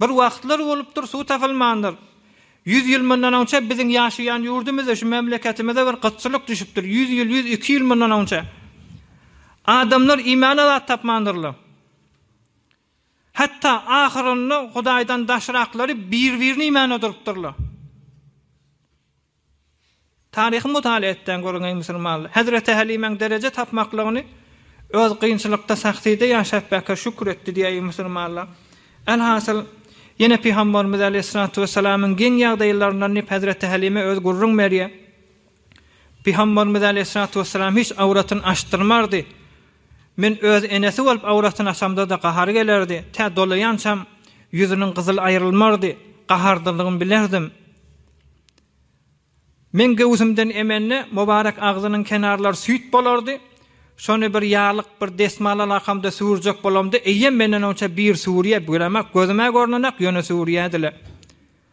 Bir wagtlar bolupdyr, suw tapylmandyr. Ýüz ýyl mundan onça biziň ýaşaýan ýurdumyzda, şu memleketimizde bir gytçylyk düşüpdir. Ýüz ýyl, ýüz iki ýyl mundan onça. Adamlar iýmäne zat tapmandyrlar. Hatda ahyrynda Hudaýdan daşraklary bir-birini iýmän oturypdyrlar. Taryhy mutala etseň görüň eý musulmanlar, Hezreti Helimäň dereje tapmaklygyny öz kynçylykda Sahsyda ýaşap bäke şükür etdi diýä eý musulmanlar. Elhasyl, ýene Pygambarymyz Aleýhissalatu wessalamyň geň ýagdaýlaryndan diýip Hezreti Helime öz gürrüň berýär. Pygamberimiz aleýhissalatu wessalam hiç awratyny açdyrmardy. Men öz enesi bolup awratyny açamda-da gahary gelerdi. Tä dolaýançam ýüzüniň gyzyly aýrylmardy. Gahardylygyny bilerdim. Meň göwsümden emende mubarek agzynyň kenarlary süýt bolardy. Şony bir ýaglyk, bir desmal alakamda süwürjek bolamda eýýäm menden onça bir süwürýä, bilemek gözüm-ä görnenak, ýöne süwürýädi-le.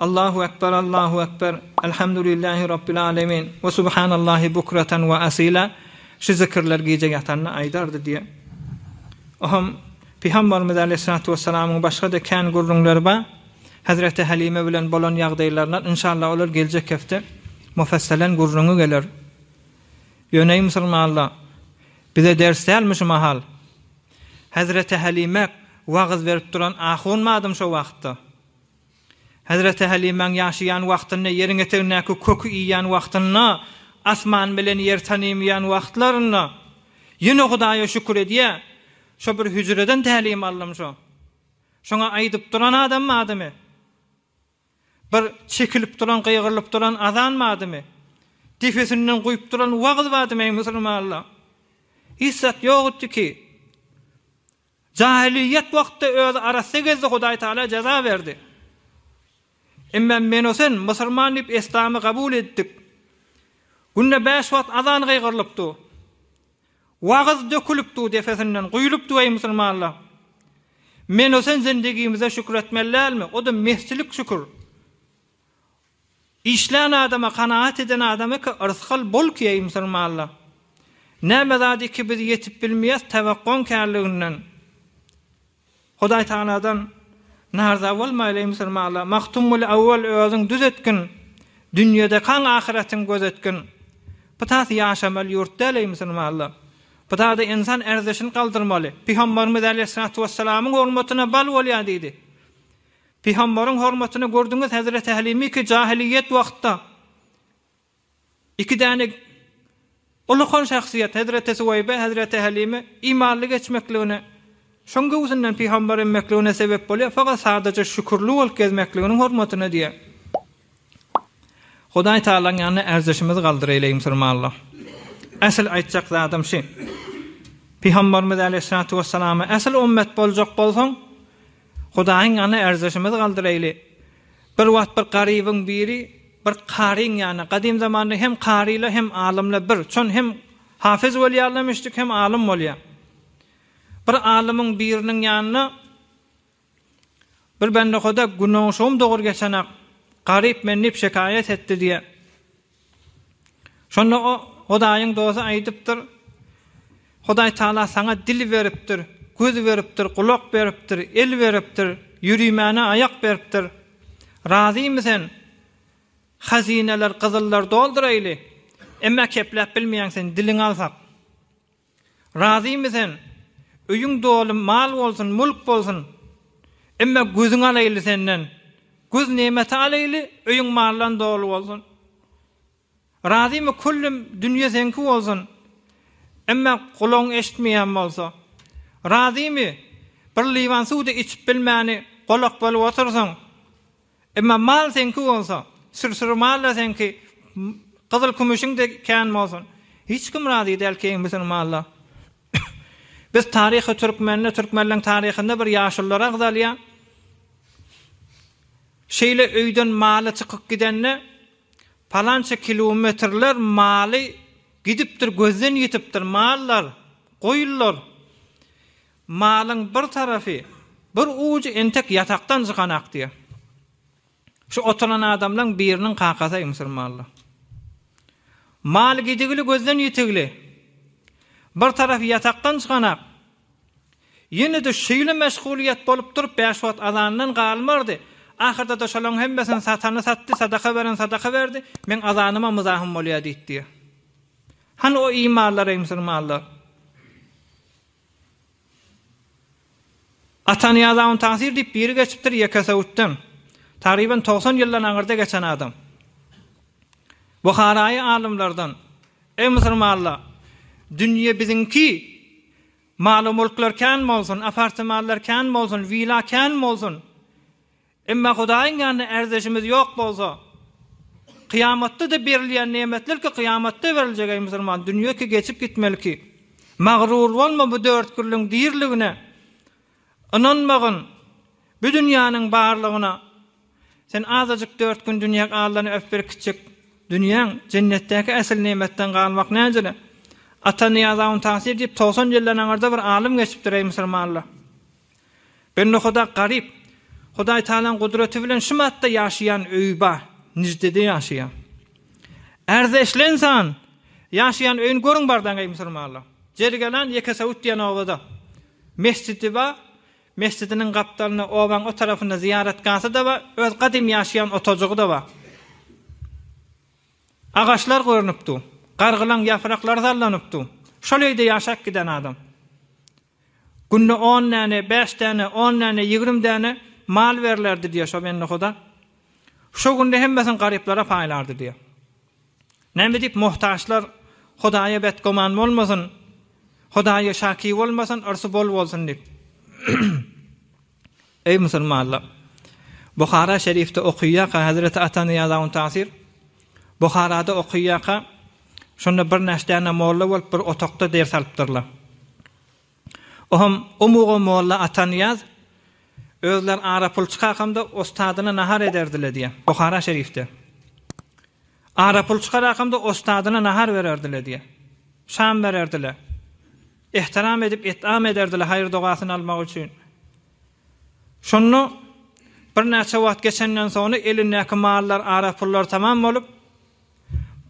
Allahu Ekber Allahu Ekber Elhamdulillähi Rabbil Alemin we Subhanallahi Bukratan we Asila şu zikirler gije ýatanda aýdardy diýe. Oham Pygambarymyz Aleýhissalatu Wessalamyň başga-da kän gürrüňleri bar. Hezreti Halime bilen bolan ýagdaýlaryndan inşallah olar geljek hepde mufassalen gürrüňi geler. Ýöneý musulmanlar bize ders dälmi şu mahal? Hezreti Halimek wagyz berip duran ahun madym şo wagtda? Hezreti Hälimäň ýaşaýan wagtynda, ýeriň etegindäki köki iýýän wagtynda, asman bilen ýer tanymýan wagtlarynda ýene Hudaýa şükür edýär, Şo bir hüjreden tälim aldym şo. Şoňa aýdyp duran adam badymy? Bir çekilip duran, gygyrylyp duran azan badymy? Depesinden guýup duran wagyz badymy, eý musulmanlar? Hiç zat ýok itdiki. Jahylyýet wagtda özi arassa gezdi Hudaý Tagala jaza berdi. Emma men o sen musurman diýip eslamy gabul etdik. Günde bäş wagt azan gygyrylyp du. Wagyz dökülip du depesinden guýlup du eý musurmanlar. Men o sen zindigimize şükür etmeli dälmi, o da mesjilik şükür. Işlän adama kanagat eden adam eke yrsgal bol ki eý musulmanlar. Näme zat iki biz ýetip bilmeýäs tewakgaň kärliginden. Hudaý Tagaladan narza bolmaýly eý musulmanlar. Magtymguly awwal özüň düz etgin. Dünýedekaň ahyratyň göz etgin. Pytat ýaşamaly ýurt däl eý musulmanlar. Pytada ynsan erzişini galdyrmaly. Pygambarymyz äleyhissalatu wessalamyň hormatyna bal bolýar diýdi. Pygambaryň hormatyna gördüňiz Hezreti Halimi ki jahiliýet wagtda iki däne ullakan şahsyýet Hezreti Suweýbe Hezreti Halime imanly geçmekligine şoň göwsünden pygambar immekligine sebep bolýar fakat sadaja şükürli bolup gezmekliginiň hormatyna diýýär. Hudaý Taalaň ýanyna ärdüşimizi galdyr eýle Musulmanlar. Esl aýtjak zadym şi. Pygambarymyz Aleýhissalatu Wessalama esl ummet boljak bolsaň Hudaýyň ýanyna ärdüşimizi galdyr eýle. Bir wagt bir garybyň biri bir karyň ýanyna gadym zamanda hem karylar hem alymlar bir çon hem hafyz bolýarlar müşdik hem alym bolýar. Bir alymyň biriniň ýanyna Bir bendehuda günoşugym dogur geçenak, garyp men diýip şekaýat etdi diýýär. Şonda o Hudaýyň dosty aýdypdyr, Hudaý Taala saňa dil beripdir, göz beripdir, gulak beripdir, el beripdir, ýürimäne aýak beripdir. Razymy sen? Hazyneler gyzyllar dolduraýly, emma kepläp bilmeýäň sen, diliňi alsak. Razymy sen? Öýüň doly mal bolsun, mülk bolsun. Emme gözüňi alaýly senden. Göz nemeti alaýly, öýüň maldan doly bolsun. Razymy küllüm dünýe seňki bolsun. Emme gulagyň eşitmeýän bolsa. Razymy? Bir liwan suw-da içip bilmäni golak bolup otyrsyň. Emma mal seňki bolsa, sürsüri mal-da seňki, gyzyl-kümüşiň-de kän bolsun, hiç kim razy däl keýiň bütün malla. Biz taryhy türkmende, türkmenleň taryhynda bir ýaşulylar agzalýar. Şeýle öýden maly çykyp gidende, palança kilometrler maly gidipdir, gözden ýitipdir, mallar, goýunlar. Malyň bir tarapy, bir ujy entek ýatakdan çykan akdyr. Şu oturan adamlaň biriniň kakasyy Müsür Mally. Mal gidigili gözden ýitigli. Bir tarapy ýatakdan çykan ak. Ýene-de şeýle meşgulyýet bolup durup bäş wagt azandan galmardy. Ahyrda-da şolaň hemmesini satany satdy, sadaka beren sadaka berdi, meň azanyma myzahym bolýa diýipdir. Hany o imanlaryy Müsür Mally? Atanyýaz Awntansir diýip biri geçipdir Ýekesöwütden. Tagryban togsan ýyldan aňyrda geçen adam. Buharaýy alymlardan, Eý musurmanlar, dünýe biziňki, maly-mulklar kän bolsun, apartmanlar kän bolsun, wila kän bolsun, Emma Hudaýyň ýanynda ärdeşimiz ýok bolsa, kyýamatda-da berilýän nemetler ki, kyýamatda beriljek, eý, musulman, dünýe ki, geçip gitmeli ki, magryr bolma bu dörtgüllüň diriligine ynanmagyn, bu dünýäniň barlygyna, sen azajyk dört gün dünýä galdan öp berkitjek dünýäň, jennetdäki ähli nemetden galmak näjele, Ata Nyýazowyň tasyr diýip, togsan ýyldan aňyrda bir alym geçipdir, eý, musulmanlar. Bir nohada garyp, Hudaý Tagalaň gudraty bilen şum atda ýaşaýan öýi bar, Niždede ýaşaýar. Ärze eşlensan, ýaşaýan öýüni görüň bardaň, eý, musulmanlar! Jergelan Ýekesowut diýen obada mesjidi bar, mesjidiniň gapdalynda, obaň o tarapynda zyýaratgasy-da bar, öz gadym ýaşaýan otajygy-da bar. Agaçlar görnüp dur, gargylaň ýapraklary sallanyp dur. Şol öýde ýaşap giden adam. Günde on däne, bäş däne, on däne, ýigrimi däne mal berlerdi diýýär şo bendehuda. Şo günde hemmesini garyplara paýlardy diýýär. Näme edip muhtaçlar Hudaýa betgüman bolmasyn, Hudaýa şaky bolmasyn, yrsy bol bolsun diýip. Eý musulmanlar! Buhara şerifde okyýaka hezreti Atanyýazaun Tasyr Buharada okyýaka şonda bir näşdäne molla bolup bir otakda ders alypdyrlar. Oham o muga molla Atanyýaz özler ara pul çykakamda ostadyna nahar ederdiler diýýär. Buhara şerifde. Ara pul çykarakamda ostadyna nahar bererdiler diýýär. Şam bererdiler. Ehtiram edip etam ederdiler haýyr dogasyny almak üçin. Şonda birnäçe wagt geçenden soňra elindäki mallar ara pullar tamam bolup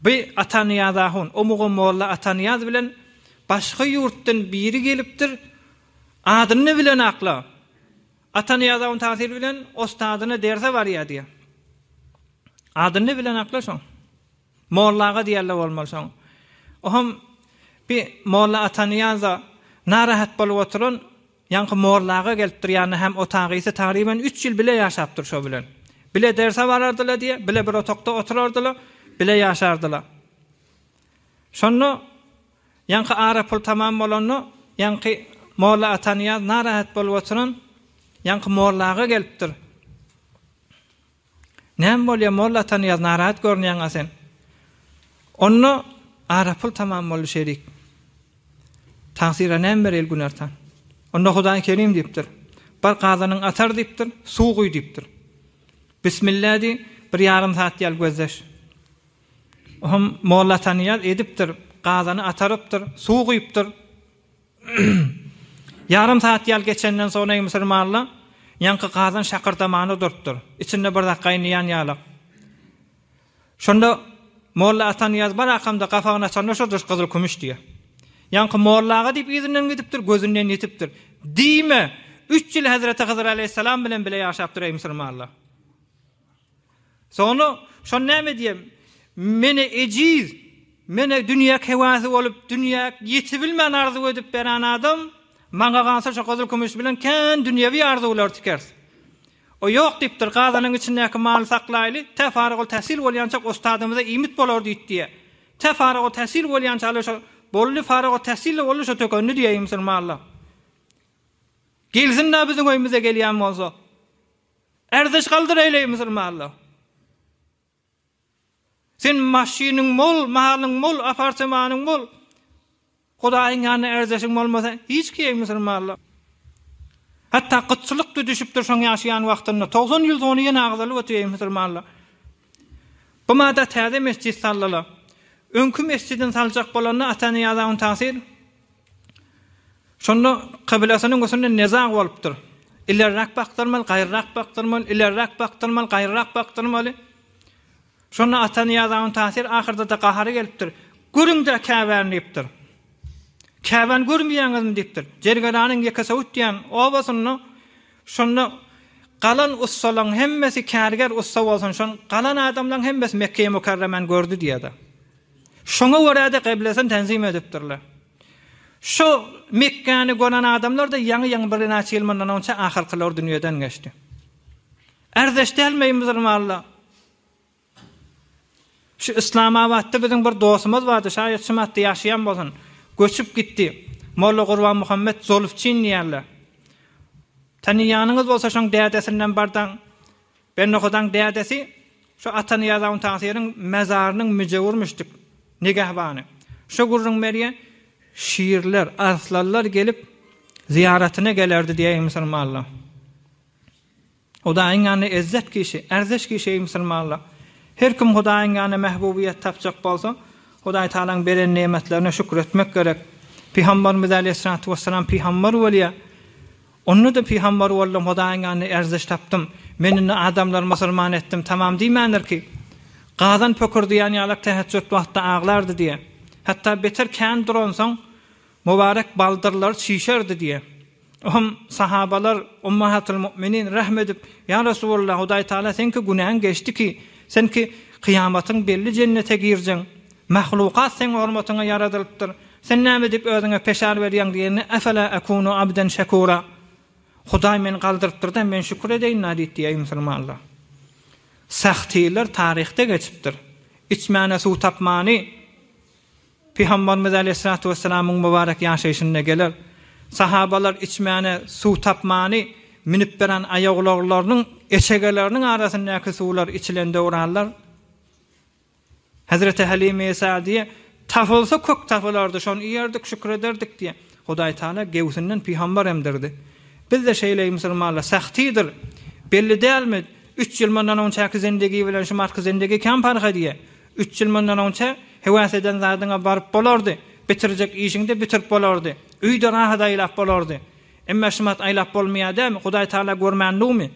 bu Atanyýaz ahun o mugam molla Atanyýaz bilen başga ýurtdan biri gelipdir adyny bilen akla Atanyýaz ahun tasyr bilen ostadyna derse barýar diýär. Adyny bilen akla şoň. Molla aga diýerler bolmaly soň. Ohm bi Molla Atanyýaza narahat bolup oturan ýaňky Molla aga gelipdir ýanyna hem otagysy tagryban üç ýyl bile ýaşapdyr şo bilen. Bile derse barardylar diýe, bile bir otagda oturardylar, bile ýaşardylar. Şonda ýaňky ara pul tamam bolanda ýaňky Molla Atanyýaz narahat bolup oturan ýaňky Molla aga gelipdir. Näme bolýa molla Atanyýaz narahat görünýäňa sen. Onda ara pul tamam boldy şerik. Tansira näme bereli Günertan. Onda Hudaý Kerim diýipdir. Bir gazanyň atar diýipdir, suw guý diýipdir. Bismilla diý, bir ýarym saat ýal gözleş. Ohm molla Atanyýaz edipdir, gazany atarypdyr, suw guýupdyr. Ýarym saat ýal geçenden soň Neým Sirmalla ýaňky gazan şakyrdamany durtdyr. Içinde bir zat gaýnaýan ýalak. Şonda Molla Atanyýaz barakamda gapagyny açanda şo duş gyzyl-kümüş diýýär. Ýaňky Molla aga diýip yzyndan gidipdir, gözünden ýitipdir. Diýme, üç ýyl hezreti Hydyr alaýhyssalam bilen bile ýaşapdyr Eým Sirmalla. Soňra şony näme diýem, men-ä ejiz, men-ä dünýä kewäsi bolup, dünýä ýetibilmän arzuw edip beren adam, maňa galsa şu gyzyl-kümüş bilen kän dünýewi arzuwlary tikeris. O ýok diýipdir, gazanyň içindäki maly saklaýly, tä faragultäsil bolýançak ustadymyza iýmit bolar diýit diýýär. Tä faragultäsil bolýançaly şo boldy, faragultäsil-de boldy, şo tökendi diýeýin musulmanlar. Gelsin-dä biziň öýümize gelýän bolsa. Erziş galdyr eýleý musulmanlar. Sen maşynyň bol, malyň bol, apartamanyň bol. Hudaýyň ýanyna erzeşiň bolmasa, hiç kiýeý musulmanlar. Hatda gytçylyk da düşüpdir şoň ýaşaýan wagtynda. 90 ýyl sony ýene agzalyp otyr eý musulmanlar. Bu mada täze mesjid saldylar. Öňki mesjidini saljak bolanda Atanyýaza Untasir Şonda kyblasynyň üstünde nezag bolupdyr. Ilerräk bakdyrmaly, gaýryrak bakdyrmaly, ilerräk bakdyrmaly, gaýryrak bakdyrmaly. Şonda Atanyýaz Aun Tasyr ahyrda-da gahary gelipdir. Görüň-dä Käbäni diýipdir. Käbäni görmeýäňizmi diýipdir. Jergeranyň Ýekesöwüt diýen obasynda şonda galan ussalaryň hemmesi kärger ussa bolsun, şon galan adamlaryň hemmesi Mekgeýi Mükerremäni gördi diýýär-de. Şoňa görä-de gyblesini tenzim edipdirler. Şu Mekgäni gören adamlar-da ýaňy-ýaňy bir näçe ýyl mundan onça ahyrkylar dünýeden geçdi. Ärdeş däl meý musulmanlar? Şu Islamabatda biziň bir dostumyz bardy, şaýat şu matda ýaşaýan bolsun. Göçüp gitdi. Molla Gurbanmuhammet Zolufçin diýerler. Tanyýanyňyz bolsa şoň dädesinden bardaň. Bennohodaň dädesi şu Atanyýazawun tagsyryň mazarynyň müjewürmişdik, nigehbany. Şu gürrüň Merýe şirler, arslanlar gelip, zyýaratyna gelerdi diýeýin musulmanlar. Hudaýyň ýanynda ezzet kişi, ärzeş kişi eý musulmanlar! Her kim Hudaýyň ýanynda mähbubyýet tapjak bolsa, Hudaý Tagalaň beren nemetlerine şükür etmek gerek. Pygambarymyz äleyhyssalatu wessalam pygambar bolýar. Onda-da pygambar boldum, Hudaýyň ýanynda erziş tapdym. Men indi adamlary musulman etdim, tamam diýmändir ki, gazan pökürdeýän ýalak täheçjut wagtda aglardy diýýär. Hatda beter kän duransoň, mübarek baldyrlary çişerdi diýýär. Oňam sahabalar, Ummahatul Mu'minin, rahm edip, Ýa Resulallah, Hudaýtagala seňki günäň geçdi ki, sen ki, kyýamatyň belli jennete girjeň. Mahlukat seň hormatyňa ýaradylypdyr. Sen näme diýip özüňe peşar berýäň diýende, Efela ekunu abden şekura, Hudaý meni galdyrypdyr-da, men şükür edeýin-la diýip diýýär, eý musulmanlar! Sahtylar taryhda geçipdir. Içmäne suw tapmany Pygambarymyz aleýhissalatu wessalamyň mübarek ýaşaýşynda geler. Sahabalar içmäne suw tapmany münüp beren aýagulaglarynyň eçegeleriniň arasyndaky suwlar içilende urarlar. Hezreti Hälime Sa'diýe, Tapylsa kök tapylardy, şony iýerdik, şükür ederdik diýýär. Hudaý Tagala göwsünden pygambar emdirdi. Biz-de şeýleý musulmanlar, Sahtidir, belli dälmi, üç ýyl mundan onçaky zindigi bilen şu martky zindigi kän parh edýär. Üç ýyl mundan onça hewas eden zadyňa baryp bolardy, bitirjek işiňde bitirip bolardy, öýde rahat aýlap bolardy. Emma şumat aýlap bolmaýar dälmi, Hudaý Tagala görmänligmi?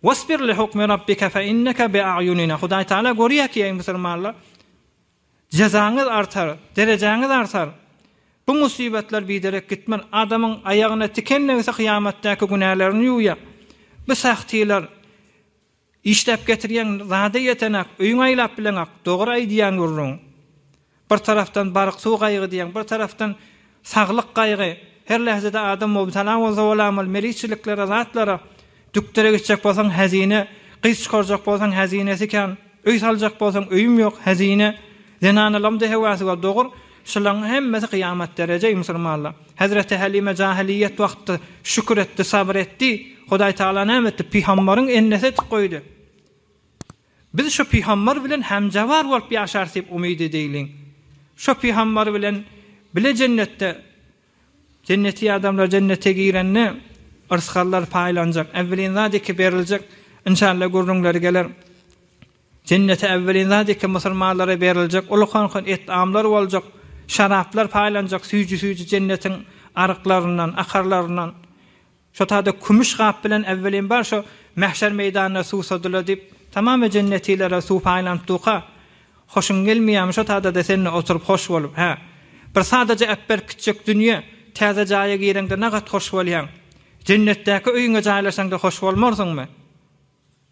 Wasbir li hukmi Rabbika fe inneke bi a'yunina, Hudaý Tagala görýär ki, eý musulmanlar, jezaňyz artar, derejäňiz artar. Bu musybetler biderek gitmän, adamyň aýagyna tiken degse kyýamatdaky günälerini ýuwýar. Bu sähtiler işläp getirýän zada ýetenak, öýüňe aýlap bileňok, dogry aýdýan gürrüň. Bir tarapdan baryk suw gaýygy diýeň, bir tarapdan saglyk gaýygy. Her lähzede adam mubtala bolsa bolamyl, meliçiliklere, zatlara. Dükdere gitjek bolsaň, hezine. Gyz çykarjak bolsaň, hezinesi kän. Öý saljak bolsaň, öýüm ýok, hezine. Zenanalamda hewa suwa dogur. Şulaň hemmesi kyýamat derejeý musulmanlar. Hezreti Hälime jahiliýet wagtda şükür etdi, sabyr etdi. Hudaý Tagala näme etdi? Pygambaryň ennesi etip goýdy. Biz şo pygambar bilen hemjawar bolup ýaşarys diýip umyt edeýliň. Şo pygambar bilen bile jennetde, jenneti adamlar jennete girende yrsgallar paýlanjak, äwwelin zat eke beriljek, inşalla gürrüňleri geler. Jennete äwwelin zat eke musulmanlara beriljek, ulukan-kan et-amlar boljak, şaraplar paýlanjak, süýji-süýji jennetiň aryklaryndan, akarlaryndan. Şo taýda kümüş gap bilen äwwelin bar şo Mähşer meýdanyna suw sodular diýip, tamam we jennetilere suw paýlanyp duka. Hoşuň gelmeýärmi şo taýda-da sen-de oturyp hoş bolup, hä? Bir sadaja äpberk gitjek dünýe, täze jaýa gireňde nagat hoş bolýaň. Jennetdäki öýüňe jaýlaşaňda hoş bolmarsyňmy?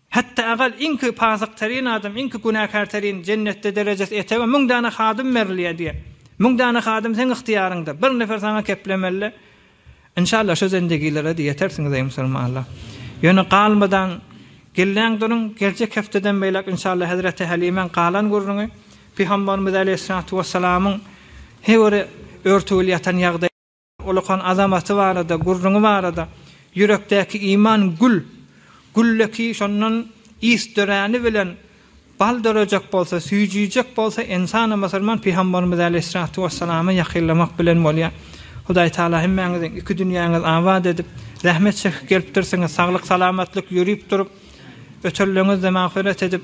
Hetda agal iňki pasykterin adam, iňki günäkärterin Jennetde derejesi etege müň dana hadym berilýär diýen. Müň dana hadym seň ygtyýaryňda. Bir nefer saňa keplemeli. Inşallah şu zendigilere-de ýetersiňiz eý musulmanlar. Ýöne galmadan gilleň duruň, geljek hepdeden beýläk inşallah hezreti Helimäň galan gürrüňi Pygamberimiz aleýhissalatu wessalamyň heweri örtügli ýatan ýagdaýy. Ulukan azamaty barada, gürrüňi barada, Ýürekdäki iman gül, gülle ki şondan is döräni bilen bal dörejek bolsa, süýjüjek bolsa ensana musulman Pygambarymyz äleyhissalatu wessalama ýakynlamak bilen bolýa. Hudaý Taala hemmäňiziň iki dünýäňiz abat edip, zähmet çekip gelipdirsiňiz, saglyk salamatlyk ýörüp durup, ötürleňizde magfyrat edip,